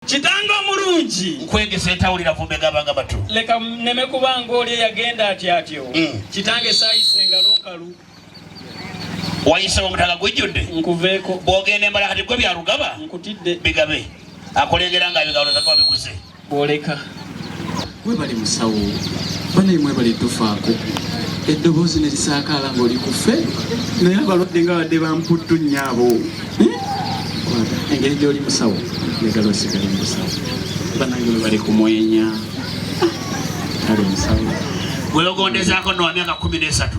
kitange omulungi nkwegese ntawulira vumbe gabanga batu leka neme kubanga oli eyagenda ati atyo mm. kitange sayise engalo nkalu wayise omutaka gujjudde nkuveeko bwogenda embala kati gwe byarugaba nkutidde bigabe akulengera nga bigalo zagwa biguze bwoleka Mwebale musawo banaye mwebale tufaako eddoboozi ne lisaakaala ng'oli ku ffe naye abalwadde nga badde bamputtu nnyabo hmm? engeri gy'oli musawo negala osigale musawo banange webali kumwenya ah, kale musawo welogondezaako nowamyaka kumi n'esatu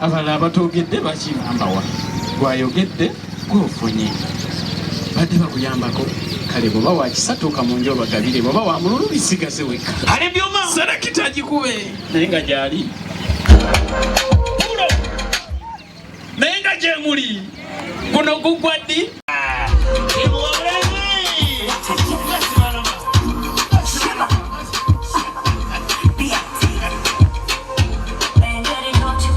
Abalala abatoogedde bakigamba wa? Gwayogedde gwofunye. Badde bakuyambako kale bwoba wakisatuuka mu nju obagabire bwoba wa mululu bisigaze wekka. Ali byuma serekita gikube naye nga gyali pulo naye nga gyemuli guno gugwa ddi